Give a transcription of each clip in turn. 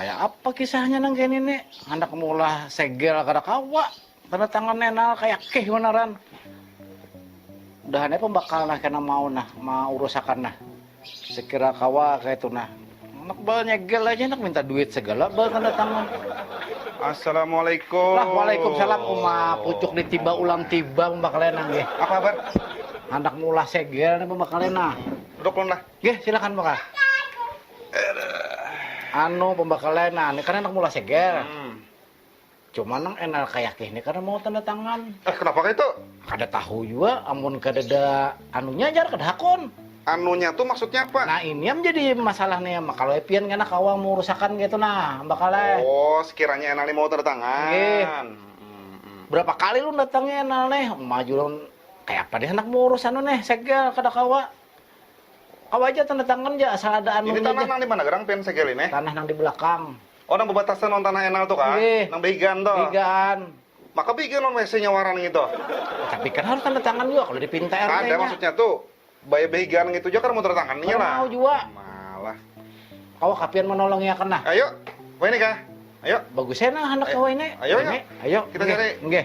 Kaya apa kisahnya nang kaya nini, handak maulah segel kada kawa, tanda tangan nenal kaya kih banaran. Udahan ai pambakal nah kena mau nah maurusakan nah, sekira kawa kaya itu nah, handak baal nyegel aja handak minta duit segala baal tanda tangan. Assalamualaikum. Lah waalaikumsalam uma pucuk di tiba ulang tiba pambakalnya nang gih. Apa kabar? Handak maulah segel nih pambakalnya nah. Duduk ulun lah. Gih, silakan bakal. Anu pembakalan, nah ini kan anak mula segel. Hmm. Cuma nang enal kayak ini karena mau tanda tangan. Eh kenapa kayak itu? Kada tahu juga, amun kada ada anunya jar kada hakun. Anunya tuh maksudnya apa? Nah ini yang jadi masalah nih, kalau Epian kena kawang mau rusakan gitu nah, bakalnya. Oh, sekiranya enal mau tanda tangan. Gih. Hmm. Berapa kali lu datangnya enal nih, maju kayak apa nih anak mau urusan nih, segel kada kawa. Kawa haja tanda tangan ja asal ada anu nya ja. Ini tanah nang di mana gerang pian segel ini? Tanah nang di belakang. Oh nang bebatasan lawan tanah enal tu kah? Nggih. Nang behigaan tu? Behigaan. Maka behigaan lawan WC nya wara ngitu? Tapi kan harus tanda tangan jua kalu dipinta RT nya. Kada maksudnya tu baya behigaan ngitu ja kada mau tanda tangan nya lah. Kada mau jua. Malah. Kawa kah pian manolongi akan nah? Ayu, wahini kah? Ayu. Bagus ai nah handak kawa ini. Ayu, ayu. Ayu. Kita cari. Nggih.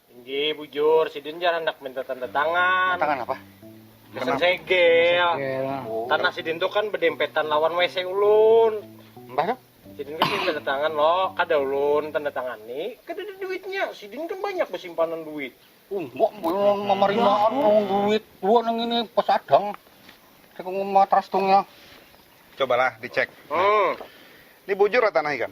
Inggih, bujur. Sidin jar handak minta tanda tangan. Tangan apa? Pesen segel. Oh. Tanah sidin tuh kan bedempetan lawan WC ulun. Mbah tuh? Sidin kan minta tanda tangan lo, kada ulun tanda tangan nih. Kada ada duitnya. Sidin kan banyak besimpanan duit. Umbok belum memarimaan ya. duit. Dua nang ini pesadang. Saya matras tungnya. Cobalah dicek. Hmm. Ini bujur lah tanah ikan.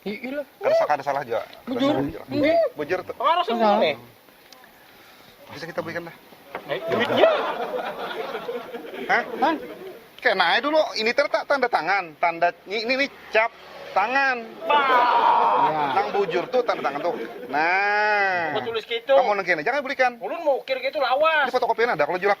Iilah. Kada kada salah jua. Bujur. Bujur tuh. Pengaruh sih ini. Bisa kita belikan dah. Eh, duitnya. Hah? Hah? Kena aja dulu. Ini tertak tanda tangan. Tanda ini ini, ini cap tangan. Ya. Nang bujur tuh tanda tangan tuh. Nah. Mau tulis gitu. Kamu nengkin jangan belikan. Ulun mau ukir gitu lawas. Di fotokopian ada kalau julak.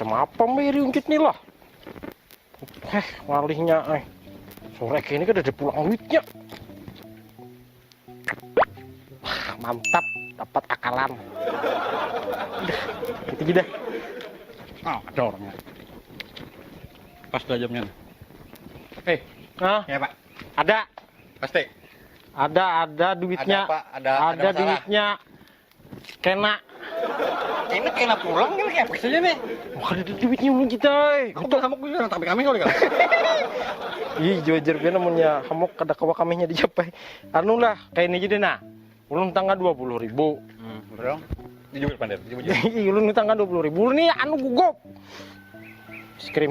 Macam apa mbak riunjut nih lah? Heh, ngalihnya eh. Sore ini kan ada pulang duitnya. Wah, mantap, dapat akalan. Udah, gitu aja dah. Oh, ada orangnya. Pas dah jamnya. Eh, Hah? ya pak. Ada. Pasti. Ada, ada duitnya. Ada, apa? ada, ada, ada duitnya. Kena. Ini kena pulang ini kayak saja nih. Bukan ada duitnya mun kita. Eh. Aku hamuk dulu nang tapi kami kali kan. Ih, juajar pian namanya hamuk kada kawa kaminya dijapai. Anu lah, kayak ini jadi nah. Ulun tangga dua puluh ribu. Hmm, berapa? Dijubit pandir, dijubit. Ulun tangga dua puluh ribu. Ulun nih anu gugup. Es krim.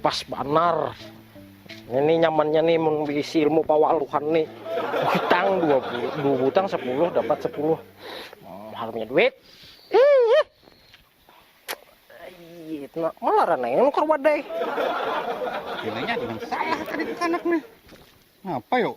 Pas banar. Ini nyamannya nih mun bisi ilmu pawaluhan nih. Butang dua, dua butang sepuluh dapat sepuluh. Hmm, harumnya duit. Iya. Iya, nah, malah yang nukar wadai. Gilanya ada yang salah tadi ke kanak nih. Ngapa yuk?